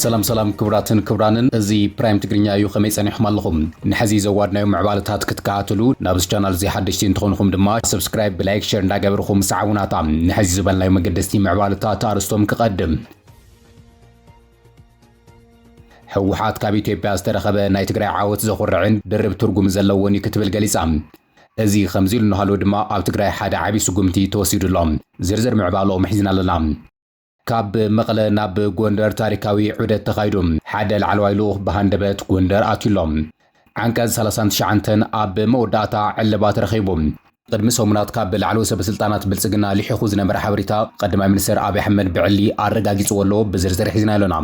ሰላም ሰላም ክቡራትን ክቡራንን እዚ ፕራይም ትግርኛ እዩ ከመይ ጸኒሕኩም ኣለኹም ንሐዚ ዘዋድናዮ ምዕባለታት ክትከታተሉ ናብዚ ቻናል እዚ ሓደሽቲ እንትኾንኹም ድማ ሰብስክራይብ ብላይክ ሸር እንዳገበርኹም ሰዓቡናታ ንሐዚ ዝበልናዮ መገደስቲ ምዕባለታት ኣርስቶም ክቐድም ህወሓት ካብ ኢትዮጵያ ዝተረኸበ ናይ ትግራይ ዓወት ዘኹርዕን ድርብ ትርጉም ዘለዎን እዩ ክትብል ገሊጻ። እዚ ከምዚ ኢሉ እናሃለወ ድማ ኣብ ትግራይ ሓደ ዓብዪ ስጉምቲ ተወሲዱ ኣሎ። ዝርዝር ምዕባለኦም ሒዝና ኣለና። ካብ መቐለ ናብ ጎንደር ታሪካዊ ዑደት ተኻይዱ። ሓደ ላዕለዋይ ልኡኽ ብሃንደበት ጎንደር ኣትዩ ኣሎ። ዓንቀፅ ሰላሳን ትሽዓንተን ኣብ መወዳእታ ዕልባት ረኺቡ። ቅድሚ ሰሙናት ካብ ላዕለዎት ሰበስልጣናት ብልፅግና ልሒኹ ዝነበረ ሓበሬታ ቐዳማይ ሚኒስትር ኣብይ ኣሕመድ ብዕሊ ኣረጋጊፅዎ ኣሎ፣ ብዝርዝር ሒዝናዮ ኣለና።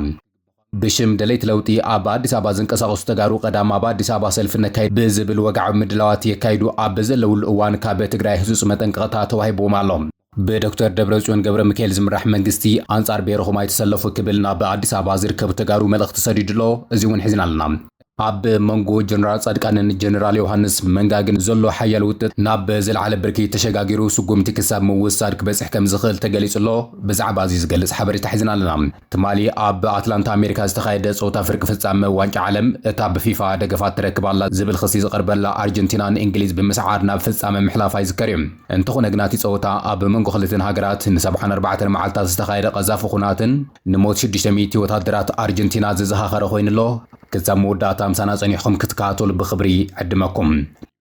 ብሽም ደለይቲ ለውጢ ኣብ ኣዲስ ኣበባ ዝንቀሳቐሱ ተጋሩ ቐዳም ኣብ ኣዲስ ኣበባ ሰልፊ ነካይድ ብዝብል ወግዓዊ ምድላዋት የካይዱ ኣብ ዘለውሉ እዋን ካብ ትግራይ ህፁፅ መጠንቀቕታ ተዋሂብዎም ኣሎ። ብዶክተር ደብረፅዮን ገብረሚካኤል ዝምራሕ መንግስቲ ኣንፃር ብሄርኹም ኣይትሰለፉ ክብል ናብ ኣዲስ ኣበባ ዝርከቡ ተጋሩ መልእኽቲ ሰዲዱ ኣሎ። እዚ እውን ሒዝና ኣለና። ኣብ መንጎ ጀነራል ፃድቃንን ጀነራል ዮውሃንስ መንጋግን ዘሎ ሓያል ውጥጥ ናብ ዝለዓለ ብርኪ ተሸጋጊሩ ስጉምቲ ክሳብ ምውሳድ ክበፅሕ ከምዝኽእል ተገሊፁ ኣሎ። ብዛዕባ እዚ ዝገልፅ ሓበሬታ ሒዝና ኣለና። ትማሊ ኣብ ኣትላንታ ኣሜሪካ ዝተኻየደ ጸወታ ፍርቂ ፍጻመ ዋንጫ ዓለም፣ እታ ብፊፋ ደገፋት ትረክብ ኣላ ዝብል ክሲ ዝቐርበላ ኣርጀንቲና ንእንግሊዝ ብምስዓር ናብ ፍጻመ ምሕላፋ ይዝከር'ዩ። እንተኾነ ግና እቲ ጸወታ ኣብ መንጎ ክልቲኣን ሃገራት ንሰብዓን ኣርባዕተን መዓልታት ዝተኻየደ ቀዛፊ ኹናትን ንሞት ሽዱሽተ ሚእቲ ወታደራት ኣርጀንቲና ዘዘኻኸረ ኮይኑ'ሎ። ክሳብ መወዳእታ ምሳና ጸኒሕኩም ክትከታተሉ ብኽብሪ ዕድመኩም።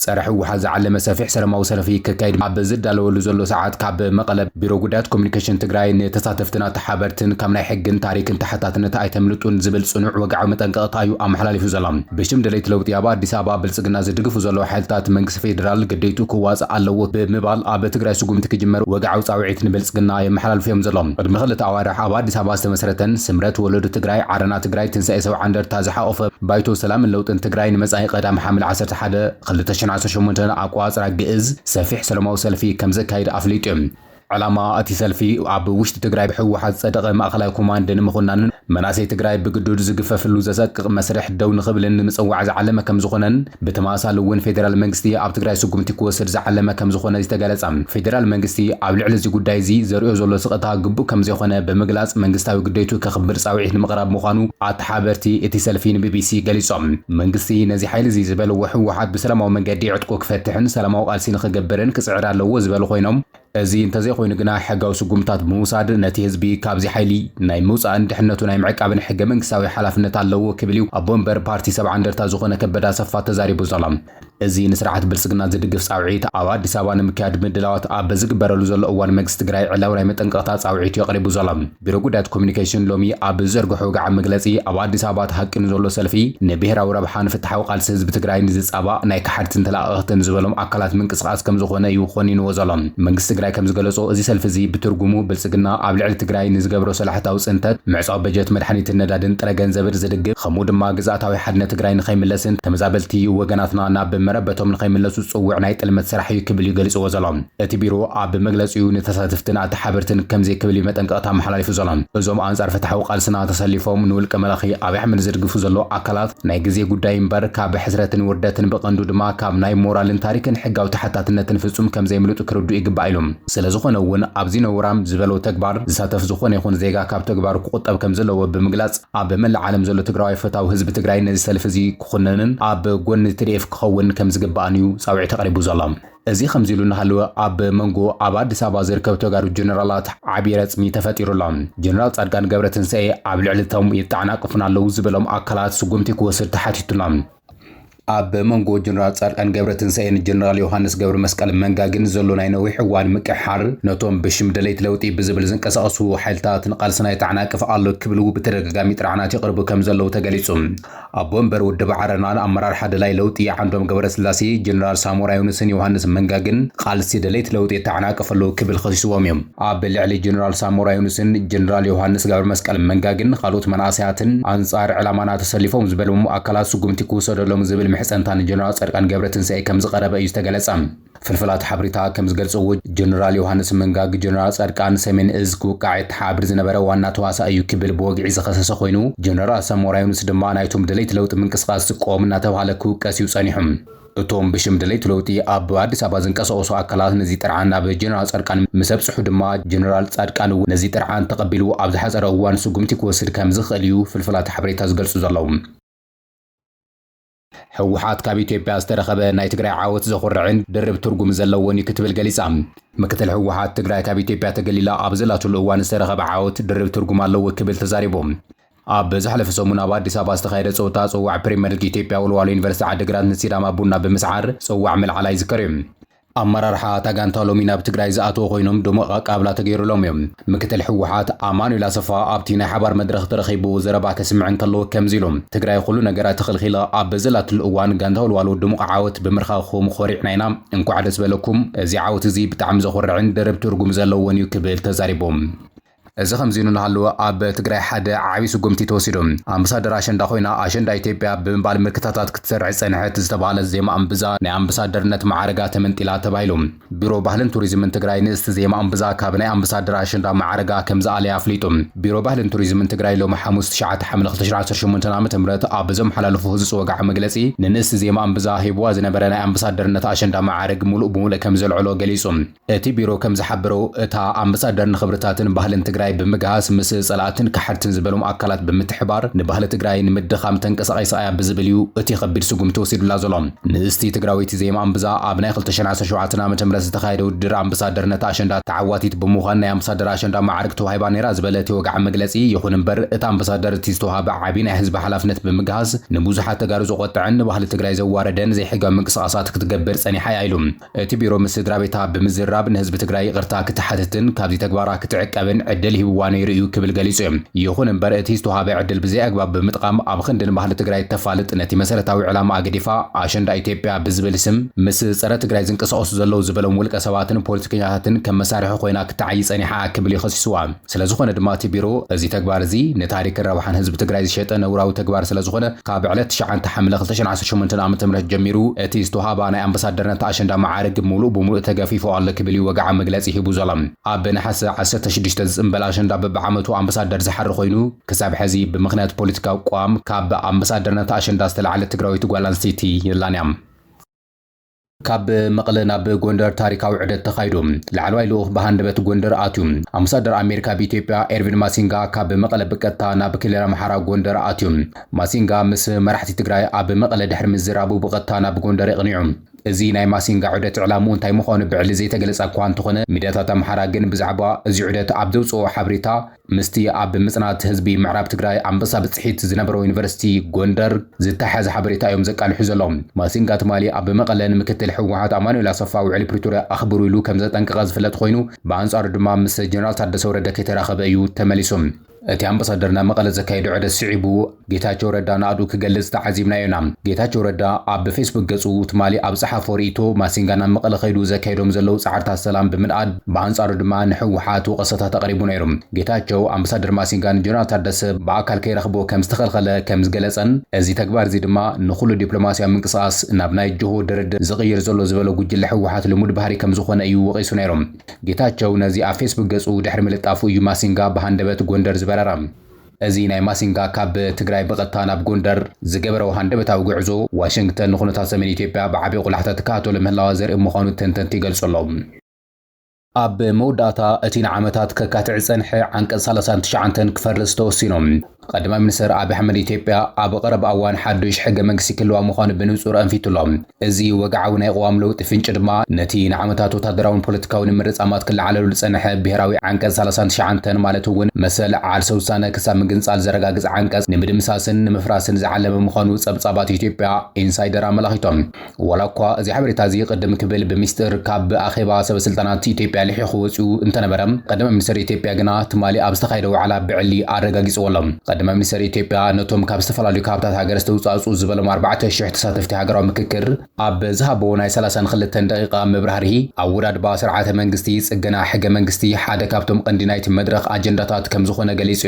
ፀረ ህወሓት ዝዓለመ ሰፊሕ ሰለማዊ ሰልፊ ክካየድ ኣብ ዝዳለወሉ ዘሎ ሰዓት ካብ መቐለ ቢሮ ጉዳያት ኮሙኒኬሽን ትግራይ ንተሳተፍትን ኣተሓበርትን ካብ ናይ ሕግን ታሪክን ተሓታትነት ኣይተምልጡን ዝብል ፅኑዕ ወግዓዊ መጠንቀቕታ እዩ ኣመሓላሊፉ ዘሎ። ብሽም ደለይቲ ለውጢ ኣብ ኣዲስ ኣበባ ብልፅግና ዝድግፉ ዘለዉ ሓይልታት መንግስቲ ፌዴራል ግዴትኡ ክዋፃእ ኣለዎ ብምባል ኣብ ትግራይ ስጉምቲ ክጅመር ወግዓዊ ፃውዒት ንብልፅግና የመሓላልፉ እዮም ዘለዉ። ቅድሚ ክልተ ኣዋርሕ ኣብ ኣዲስ ኣበባ ዝተመስረተን ስምረት ወለዶ ትግራይ፣ ዓረና ትግራይ፣ ትንሳኤ ሰብዓ እንደርታ ዝሓቖፈ ባይቶ ሰላምን ለውጥን ትግራይ ንመፃኢ ቀዳም ሓምለ ዓሰርተ ሓደ ክልተ ሸን ዓሰርተ ሸሞንተ ኣቆፃፅራ ግእዝ ሰፊሕ ሰለማዊ ሰልፊ ከምዘካይድ ኣፍሊጡ ዩ። ዕላማ እቲ ሰልፊ ኣብ ውሽጢ ትግራይ ብህወሓት ዝፀደቐ ማእኸላይ ኮማንድ ንምኹናንን መናእሰይ ትግራይ ብግዱድ ዝግፈፍሉ ዘሰቅቕ መስርሕ ደው ንኽብልን ንምፅዋዕ ዝዓለመ ከምዝኾነን ብተመሳሳሊ እውን ፌዴራል መንግስቲ ኣብ ትግራይ ስጉምቲ ክወስድ ዝዓለመ ከምዝኾነ ዝተገለፀ ፌዴራል መንግስቲ ኣብ ልዕሊ እዚ ጉዳይ እዚ ዘርእዮ ዘሎ ስቕታ ግቡእ ከምዘይኾነ ብምግላፅ መንግስታዊ ግዴቱ ከኽብር ፃውዒት ንምቕራብ ምዃኑ ሓበርቲ እቲ ሰልፊ ንቢቢሲ ገሊጾም። መንግስቲ ነዚ ሓይሊ'ዚ ዝበልዎ ህወሓት ብሰላማዊ መንገዲ ዕጥቁ ክፈትሕን ሰላማዊ ቃልሲ ንኽገብርን ክጽዕር ኣለዎ ዝበሉ ኮይኖም፣ እዚ እንተዘይኮይኑ ግና ሕጋዊ ስጉምትታት ብምውሳድ ነቲ ህዝቢ ካብዚ ሓይሊ ናይ ምውጻእን ድሕነቱ ናይ ምዕቃብን ሕገ-መንግስታዊ ሓላፍነት ኣለዎ ክብል'ዩ ኣቦ-መንበር ፓርቲ ሰብዓ እንደርታ ዝኾነ ከበደ ኣሰፋ ተዛሪቡ ዘሎ። እዚ ንስርዓት ብልፅግና ዝድግፍ ፃውዒት ኣብ ኣዲስ ኣበባ ንምክያድ ምድላዋት ኣብ ዝግበረሉ ዘሎ እዋን መንግስቲ ትግራይ ዕላዊ ናይ መጠንቀቕታ ፃውዒት እዩ ኣቕሪቡ ዘሎ። ቢሮ ጉዳያት ኮሙዩኒኬሽን ሎሚ ኣብ ዝዘርገሖ ወግዓዊ መግለፂ ኣብ ኣዲስ ኣበባ ተሃቂኑ ዘሎ ሰልፊ ንብሄራዊ ረብሓን ፍትሓዊ ቃልሲ ህዝቢ ትግራይን ዝፃባእ ናይ ከሓድትን ተለኣኣኽትን ዝበሎም ኣካላት ምንቅስቓስ ከምዝኾነ እዩ ኾኒንዎ ዘሎ። መንግስቲ ትግራይ ከምዝገለፆ እዚ ሰልፊ እዚ ብትርጉሙ ብልፅግና ኣብ ልዕሊ ትግራይ ንዝገብሮ ሰላሕታዊ ፅንተት፣ ምዕፃው በጀት መድሓኒትን ነዳድን ጥረ ገንዘብን ዝድግፍ ከምኡ ድማ ግዝኣታዊ ሓድነት ትግራይ ንኸይምለስን ተመዛበልቲ ወገናትና ናብ መረበቶም ንኸይምለሱ ዝፅውዕ ናይ ጥልመት ስራሕ እዩ ክብል እዩ ገሊፅዎ ዘሎ። እቲ ቢሮ ኣብ መግለፂኡ ንተሳተፍትን ኣተሓበርትን ከምዚ ክብል እዩ መጠንቀቕታ ኣመሓላሊፉ ዘሎ። እዞም ኣንፃር ፍትሓዊ ቃልስና ተሰሊፎም ንውልቀ መላኺ ኣብይ ኣሕመድ ዝድግፉ ዘለዉ ኣካላት ናይ ግዜ ጉዳይ እምበር ካብ ሕስረትን ውርደትን ብቐንዱ ድማ ካብ ናይ ሞራልን ታሪክን ሕጋዊ ተሓታትነትን ፍፁም ከምዘይምልጡ ክርድኡ ይግባእ ኢሉ። ስለዝኾነ እውን ኣብዚ ነውራም ዝበሎ ተግባር ዝሳተፍ ዝኾነ ይኹን ዜጋ ካብ ተግባሩ ክቑጠብ ከምዘለዎ ብምግላፅ፣ ኣብ መላእ ዓለም ዘሎ ትግራዋይ ፈታዊ ህዝቢ ትግራይ ነዚ ሰልፊ እዚ ክኹንንን ኣብ ጎኒ ትዲኤፍ ክኸውን ከም ዝግባእን እዩ ፃውዒት ኣቕሪቡ ዘሎ። እዚ ከምዚ ኢሉ እናሃለወ ኣብ መንጎ ኣብ ኣዲስ ኣበባ ዝርከቡ ተጋሩ ጀነራላት ዓብዪ ረፅሚ ተፈጢሩ ኣሎ። ጀነራል ፃድቃን ገብረትንሳኤ ኣብ ልዕሊ እቶም የጣዕናቅፉና ኣለው ዝበሎም ኣካላት ስጉምቲ ክወስድ ተሓቲቱ ኣሎ። ኣብ መንጎ ጀነራል ጻድቃን ገብረትንሳኤን ጀነራል ዮሃንስ ገብረመስቀል መንጋ ግን ዘሎ ናይ ነዊሕ እዋን ምቅሕሓር ነቶም ብሽም ደለይቲ ለውጢ ብዝብል ዝንቀሳቐሱ ሓይልታት ንቓልስና የተዓናቅፍ ኣሎ ክብሉ ብተደጋጋሚ ጥርዓናት የቕርቡ ከምዘለዉ ተገሊጹ። ኣቦ ወንበር ውድብ ዓረናን ኣመራርሓ ደላይ ለውጢ ዓንዶም ገብረስላሴ፣ ጀነራል ሳሞራ ዮኑስን ዮሃንስ መንጋ ግን ቓልሲ ደለይቲ ለውጢ የተዓናቅፍ ኣሎ ክብል ከሲስዎም እዩ። ኣብ ልዕሊ ጀነራል ሳሞራ ዩኑስን ጀነራል ዮሃንስ ገብረመስቀል መንጋግን ኻልኦት መናእሰያትን ኣንጻር ዕላማና ተሰሊፎም ዝበሎም ኣካላት ስጉምቲ ክውሰደሎም ዝብል ምሕጸንታ ንጀነራል ጻድቃን ገብረትንሳኤ ከምዝቐረበ እዩ ዝተገለጸ። ፍልፍላት ሓብሪታ ከምዝገልጽዎ ጀነራል ዮሃንስ መንጋግ ጀነራል ጻድቃን ሰሜን እዝ ክውቃዕ የተሓባብር ዝነበረ ዋና ተዋሳኢ እዩ ክብል ብወግዒ ዝኸሰሰ ኮይኑ ጀነራል ሳሞራ ዩኑስ ድማ ናይቶም ደለይቲ ለውጢ ምንቅስቓስ ዝቃወም እናተብሃለ ክውቀስ እዩ ጸኒሑ። እቶም ብሽም ደለይቲ ለውጢ ኣብ ኣዲስ ኣበባ ዝንቀሳቐሱ ኣካላት ነዚ ጥርዓን ናብ ጀነራል ፃድቃን ምስ ኣብፅሑ ድማ ጀነራል ፃድቃን እውን ነዚ ጥርዓን ተቐቢሉ ኣብ ዝሓፀረ እዋን ስጉምቲ ክወስድ ከም ዝኽእል እዩ ፍልፍላት ሓበሬታ ዝገልፁ ዘለዉ። ህወሓት ካብ ኢትዮጵያ ዝተረኸበ ናይ ትግራይ ዓወት ዘኹርዕን ድርብ ትርጉም ዘለዎን እዩ ክትብል ገሊፃ። ምክትል ህወሓት ትግራይ ካብ ኢትዮጵያ ተገሊላ ኣብ ዘላትሉ እዋን ዝተረኸበ ዓወት ድርብ ትርጉም ኣለዎ ክብል ተዛሪቡ። ኣብ ዝሓለፈ ሰሙን ኣብ ኣዲስ ኣበባ ዝተኻየደ ፀወታ ፅዋዕ ፕሪመር ሊግ ኢትዮጵያ ወልዋሎ ዩኒቨርሲቲ ዓዲግራት ንሲዳማ ቡና ብምስዓር ፅዋዕ ምልዓላ ይዝከር እዩ። ኣመራርሓ እታ ጋንታ ሎሚ ናብ ትግራይ ዝኣተው ኮይኖም ድሙቕ ኣቀባብላ ተገይሩሎም እዩ። ምክትል ህወሓት ኣማኑኤል ኣሰፋ ኣብቲ ናይ ሓባር መድረኽ ተረኺቡ ዘረባ ከስምዕ እንከሎ ከምዚ ኢሉ፣ ትግራይ ኹሉ ነገራ ተኸልኺላ ኣብ በዘላትሉ እዋን ጋንታ ወልዋሎ ድሙቕ ዓወት ብምርካኹም ኾሪዕና ኢና፣ እንኳዕ ደስ በለኩም፣ እዚ ዓወት እዚ ብጣዕሚ ዘኹርዕን ድርብ ትርጉም ዘለዎን እዩ ክብል ተዛሪቡ። እዚ ከምዚሉ እናሃለወ ኣብ ትግራይ ሓደ ዓብይ ስጉምቲ ተወሲዱ። ኣምበሳደር ኣሸንዳ ኮይና ኣሸንዳ ኢትዮጵያ ብምባል ምልክታታት ክትሰርዕ ዝፀንሐት ዝተብሃለት ዜማ እምብዛ ናይ ኣምበሳደርነት መዓርጋ ተመንጢላ ተባሂሉ። ቢሮ ባህልን ቱሪዝምን ትግራይ ንእስቲ ዜማ እምብዛ ካብ ናይ ኣምበሳደር ኣሸንዳ መዓርጋ ከምዝኣለያ ኣፍሊጡ። ቢሮ ባህልን ቱሪዝምን ትግራይ ሎሚ ሓሙስ ትሽዓተ ሓምለ ክልተ ሽሕን ዓሰርተ ሸሞንተን ዓመተ ምህረት ኣብ ዘመሓላለፎ ህፁፅ ወግዓዊ መግለፂ ንንእስቲ ዜማ እምብዛ ሂቡዋ ዝነበረ ናይ ኣምበሳደርነት ኣሸንዳ መዓርግ ሙሉእ ብሙሉእ ከምዘልዐሎ ገሊፁ። እቲ ቢሮ ከም ዝሓበሮ፣ እታ ኣምበሳደር ንኽብርታትን ባህልን ትግራይ ብምግሃስ ምስ ፀላእትን ከሓድትን ዝበሎም ኣካላት ብምትሕባር ንባህሊ ትግራይ ንምድኻም ተንቀሳቒሳ እያ ብዝብል እዩ እቲ ኸቢድ ስጉምቲ ተወሲዱላ ዘሎ። ንእስቲ ትግራወይቲ ዜማ ኣምብዛ ኣብ ናይ ክልተ ሽሕን ዓሰርተ ሸውዓተን ዓመተ ምህረት ዝተኻየደ ውድድር ኣምበሳደርነት ኣሸንዳ ተዓዋቲት ብምዃን ናይ ኣምበሳደር ኣሸንዳ ማዕርግ ተዋሂባ ነይራ ዝበለ እቲ ወግዓዊ መግለፂ፣ ይኹን እምበር እታ ኣምበሳደር እቲ ዝተውሃባ ዓብዪ ናይ ህዝቢ ሓላፍነት ብምግሃስ ንብዙሓት ተጋሩ ዘቖጠዐን ንባህሊ ትግራይ ዘዋረደን ዘይሕጋዊ ምንቅስቓሳት ክትገብር ፀኒሓ እያ ኢሉ። እቲ ቢሮ ምስ ስድራቤታ ብምዝርራብ ንህዝቢ ትግራይ ይቕርታ ክትሓትትን ካብዚ ተግባራ ክትዕቀብን ዕድል ሂብዋ ነይሩ እዩ ክብል ገሊጹ እዩ። ይኹን እምበር እቲ ዝተውሃበ ዕድል ብዘይኣግባብ ብምጥቓም ኣብ ኽንዲ ንባህሊ ትግራይ እተፋልጥ ነቲ መሰረታዊ ዕላማኣ ገዲፋ ኣሸንዳ ኢትዮጵያ ብዝብል ስም ምስ ፀረ ትግራይ ዝንቀሳቐሱ ዘለዉ ዝበሎም ውልቀ ሰባትን ፖለቲከኛታትን ከም መሳርሒ ኾይና ክትዓዪ ፀኒሓ ክብል እዩ ኸሲስዋ። ስለዝኾነ ድማ እቲ ቢሮ እዚ ተግባር እዚ ንታሪክን ረብሓን ህዝቢ ትግራይ ዝሸጠ ነውራዊ ተግባር ስለዝኾነ ካብ ዕለት ትሽዓንተ ሓምለ ክልተ ሽሕን ዓሰርተ ሸሞንተን ዓመተ ምህረት ጀሚሩ እቲ ዝተውሃባ ናይ ኣምበሳደርነት ኣሸንዳ መዓርግ ሙሉእ ብሙሉእ ተገፊፉ ኣሎ ክብል እዩ ወግዓዊ መግለፂ ሂቡ ዘሎ። ኣብ ነሓሰ ዓሰርተ ሽዱሽተ ዝፅምበል ኣሸንዳ በቢዓመቱ ኣምበሳደር ዝሓሪ ኮይኑ ክሳብ ሕዚ ብምኽንያት ፖለቲካዊ ቅዋም ካብ ኣምበሳደርነት ኣሸንዳ ዝተልዓለት ትግራወይቲ ጓል ኣንስተይቲ የላን እያ። ካብ መቐለ ናብ ጎንደር ታሪካዊ ዑደት ተኻይዱ። ላዕለዋይ ልኡኽ ብሃንደበት ጎንደር ኣትዩ። ኣምባሳደር ኣሜሪካ ኣብ ኢትዮጵያ ኤርቪን ማሲንጋ ካብ መቐለ ብቀጥታ ናብ ክልል ኣምሓራ ጎንደር ኣትዩ። ማሲንጋ ምስ መራሕቲ ትግራይ ኣብ መቐለ ድሕሪ ምዝራቡ ብቐጥታ ናብ ጎንደር የቕኒዑ። እዚ ናይ ማሲንጋ ዑደት ዕላምኡ እንታይ ምዃኑ ብዕሊ ዘይተገለጸ'ኳ እንተኾነ ሚድያታት ኣምሓራ ግን ብዛዕባ እዚ ዑደት ኣብ ዘውጽእኦ ሓበሬታ፣ ምስቲ ኣብ ምፅናት ህዝቢ ምዕራብ ትግራይ ኣንበሳ ብፅሒት ዝነበሮ ዩኒቨርሲቲ ጎንደር ዝተሓሓዝ ሓበሬታ እዮም ዘቃልሑ ዘለው። ማሲንጋ ትማሊ ኣብ መቐለ ንምክትል ህወሓት ኣማኑኤል ኣሰፋ ውዕሊ ፕሪቶርያ ኣኽብሩ ኢሉ ከምዘጠንቀቐ ዝፍለጥ ኾይኑ ብኣንፃሩ ድማ ምስ ጀነራል ታደሰ ወረደ ከይተራኸበ እዩ ተመሊሱ። እቲ ኣምበሳደር ናብ መቐለ ዘካየዶ ዑደት ስዒቡ ጌታቸው ረዳ ናእዱ ክገልጽ ተዓዚብናዮ ኢና። ጌታቸው ረዳ ኣብ ብፌስቡክ ገጹ ትማሊ ኣብ ዝጸሓፎ ርእይቶ፣ ማሲንጋ ናብ መቐለ ከይዱ ዘካየዶም ዘለዉ ጻዕርታት ሰላም ብምንኣድ፣ ብኣንጻሩ ድማ ንህወሓት ወቐሰታት ኣቕሪቡ ነይሩ። ጌታቸው፣ ኣምባሳደር ማሲንጋ ንጀነራል ታደሰ ብኣካል ከይረኽቦ ከም ዝተኸልኸለ ከም ዝገለጸን፣ እዚ ተግባር'ዚ ድማ ንኹሉ ዲፕሎማስያዊ ምንቅስቓስ ናብ ናይ ጅሆ ድርድር ዝቕይር ዘሎ ዝበሎ ጉጅለ ህወሓት ልሙድ ባህሪ ከም ዝኾነ እዩ ወቒሱ ነይሩ። ጌታቸው ነዚ ኣብ ፌስቡክ ገጹ ድሕሪ ምልጣፉ እዩ ማሲንጋ ብሃንደበት ጎንደር ዝበረረ። እዚ ናይ ማሲንጋ ካብ ትግራይ ብቐጥታ ናብ ጎንደር ዝገበረኦ ሃንደበታዊ ጉዕዞ፣ ዋሽንግተን ንኩነታት ሰሜን ኢትዮጵያ ብዓቢ ቁላሕታ ትከታተሎ ምህላዋ ዘርኢ ምዃኑ ተንተንቲ ይገልጹ ኣለዉ። ኣብ መወዳእታ፣ እቲ ንዓመታት ከካትዕ ዝጸንሐ ዓንቀጽ ሰላሳን ትሽዓንተን ክፈርስ ተወሲኑ። ቀዳማይ ሚኒስተር ኣቢይ ኣሕመድ፣ ኢትዮጵያ ኣብ ቐረባ እዋን ሓዱሽ ሕገ መንግስቲ ክህልዋ ምዃኑ ብንጹር ኣንፊቱ ኣሎ። እዚ ወግዓዊ ናይ ቅዋም ለውጢ ፍንጪ ድማ፣ ነቲ ንዓመታት ወታደራውን ፖለቲካውን ምርጻማት ክለዓለሉ ዝጸንሐ ብሄራዊ ዓንቀጽ ሰላሳን ትሽዓንተን ማለት'ውን መሰል ዓርሰ ውሳነ ክሳብ ምግንጻል ዘረጋግጽ ዓንቀጽ ንምድምሳስን ንምፍራስን ዝዓለመ ምዃኑ ጸብጻባት ኢትዮጵያ ኢንሳይደር ኣመላኺቶም። ዋላ'ኳ እዚ ሓበሬታ'ዚ ቅድም ክብል ብሚስጥር ካብ ኣኼባ ሰበስልጣናት ኢትዮጵያ ልሒኹ ወጺኡ እንተነበረ፣ ቀዳማይ ሚኒስተር ኢትዮጵያ ግና ትማሊ ኣብ ዝተኻየደ ዋዕላ ብዕሊ ኣረጋጊጽዎ'ሎ። ቀዳማይ ሚኒስተር ኢትዮጵያ ነቶም ካብ ዝተፈላለዩ ከባብታት ሃገር ዝተውጻእጽኡ ዝበሎም ኣርባዕተ ሽሕ ተሳተፍቲ፣ ፓርቲ ሃገራዊ ምክክር ኣብ ዝሃቦ ናይ ሰላሳን ክልተን ደቒቓ መብራህርሂ፣ ኣወዳድባ ስርዓተ መንግስቲ፣ ጽገና ሕገ መንግስቲ ሓደ ካብቶም ቐንዲ ናይቲ መድረኽ ኣጀንዳታት ከምዝኾነ ገሊጹ።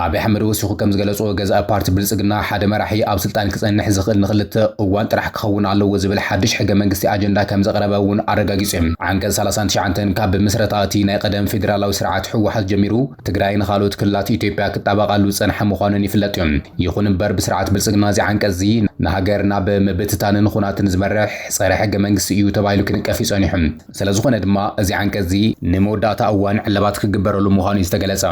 ኣብይ ኣሕመድ ወሲኹ ከምዝገለጾ፣ ገዛኢ ፓርቲ ብልጽግና ሓደ መራሒ ኣብ ስልጣን ክጸንሕ ዝኽእል ንክልተ እዋን ጥራሕ ክኸውን ኣለዎ ዝብል ሓድሽ ሕገ መንግስቲ ኣጀንዳ ከምዘቕረበ እውን ኣረጋጊጹ። ዓንቀጽ ሰላሳን ትሽዓንተን ካብ ምስረታ እቲ ናይ ቐደም ፌደራላዊ ስርዓት ህወሓት ጀሚሩ ትግራይን ኻልኦት ክልላት ኢትዮጵያ ክጣበቓሉ ዝጸንሐ ምዃኑን ይፍለጥ እዩ። ይኹን እምበር ብስርዓት ብልፅግና እዚ ዓንቀፅ እዚ ንሃገር ናብ ምብትታንን ኹናትን ዝመርሕ ፀረ ሕገ መንግስቲ እዩ ተባሂሉ ክንቀፍ እዩ ፀኒሑ። ስለዝኾነ ድማ እዚ ዓንቀፅ እዚ ንመወዳእታ እዋን ዕለባት ክግበረሉ ምዃኑ እዩ ዝተገለፀ።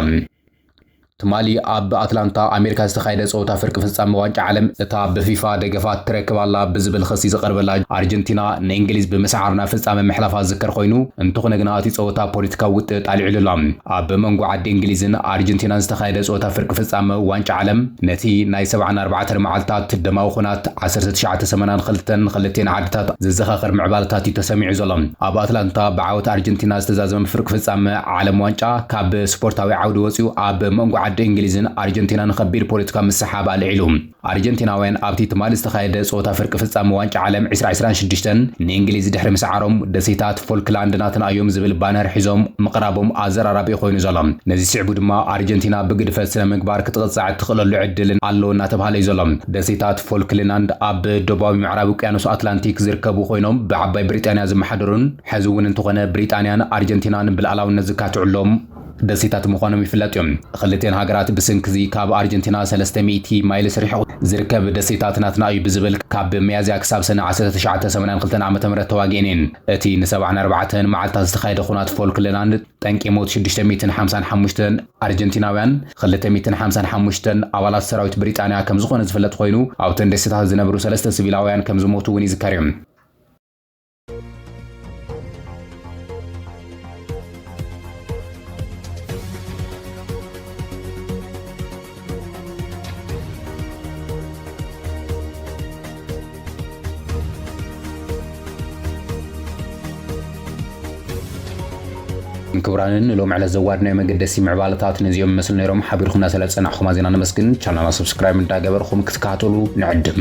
ትማሊ ኣብ ኣትላንታ ኣሜሪካ ዝተኻየደ ፀወታ ፍርቂ ፍፃመ ዋንጫ ዓለም እታ ብፊፋ ደገፋት ትረክብ ኣላ ብዝብል ኽሲ ዝቐርበላ ኣርጀንቲና ንእንግሊዝ ብምስዓር ናብ ፍፃመ ምሕላፋ ዝዝከር ኾይኑ እንተኾነ ግና እቲ ፀወታ ፖለቲካዊ ውጥጥ ኣልዒሉ'ሎ። ኣብ መንጎ ዓዲ እንግሊዝን ኣርጀንቲናን ዝተኻየደ ጸወታ ፍርቂ ፍጻመ ዋንጫ ዓለም፣ ነቲ ናይ ሰብዓን ኣርባዕተን መዓልታት ደማዊ ኹናት ዓሰርተ ትሽዓተ ሰመናን ኽልተን ኽልቴን ዓድታት ዘዘኻኽር ምዕባለታት እዩ ተሰሚዑ ዘሎ። ኣብ ኣትላንታ ብዓወት ኣርጀንቲና ዝተዛዘመ ፍርቂ ፍጻመ ዓለም ዋንጫ፣ ካብ ስፖርታዊ ዓውዲ ወጺኡ ኣብ መንጎ ዓዲ እንግሊዝን ኣርጀንቲናን ኸቢድ ፖለቲካዊ ምስሕሓብ ኣልዒሉ። ኣርጀንቲናውያን ኣብቲ ትማሊ ዝተኻየደ ጸወታ ፍርቂ ፍጻመ ዋንጫ ዓለም ዕስራ ዕስራን ሽዱሽተን ንእንግሊዝ ድሕሪ ምስዓሮም ደሴታት ፎልክላንድ ናትና እዮም ዝብል ባነር ሒዞም ምቕራቦም ኣዘራራቢ'ዩ ኮይኑ ዘሎ። ነዚ ስዒቡ ድማ ኣርጀንቲና ብግድፈት ስነ-ምግባር ክትቕጻዕ እትኽእለሉ ዕድል ኣሎ እናተብሃለ'ዩ ዘሎ። ደሴታት ፎልክልናንድ ኣብ ደቡባዊ ምዕራብ ውቅያኖስ ኣትላንቲክ ዝርከቡ ኮይኖም ብዓባይ ብሪጣንያ ዝመሓደሩን ሕዚ'ውን እንተኾነ ብሪጣንያን ኣርጀንቲናን ብልኣላውነት ዝካትዑሎም ደሴታት ምዃኖም ይፍለጥ እዩ። ኽልቲኤን ሃገራት ብስንኪ'ዚ ካብ ኣርጀንቲና ሰለስተ ሚእቲ ማይልስ ርሒቑ ዝርከብ ደሴታት ናትና እዩ ብዝብል ካብ ሚያዝያ ክሳብ ሰነ ዓሰርተ ትሽዓተ ሰማንያን ክልተን ዓመተ ምህረት ተዋጊኤን እየን። እቲ ንሰብዓን ኣርባዕተን መዓልታት ዝተኻየደ ኹናት ፎልክለናንድ ጠንቂ ሞት ሽዱሽተ ሚእትን ሓምሳን ሓሙሽተን ኣርጀንቲናውያን ኽልተ ሚእትን ሓምሳን ሓሙሽተን ኣባላት ሰራዊት ብሪጣንያ ከምዝኾነ ዝፍለጥ ኾይኑ ኣብተን ደሴታት ዝነብሩ ሰለስተ ስቪላውያን ከምዝሞቱ እውን ይዝከር እዩ። ክቡራንን ሎም ዕለት ዘዋድናዮ መገደሲ ምዕባለታት ነዚኦም ይመስሉ ነይሮም። ሓቢርኩምና ስለ ዝጸናዕኹም ኣዝና ነመስግን። ቻናልና ሰብስክራይብ እንዳገበርኩም ክትከታተሉ ንዕድም።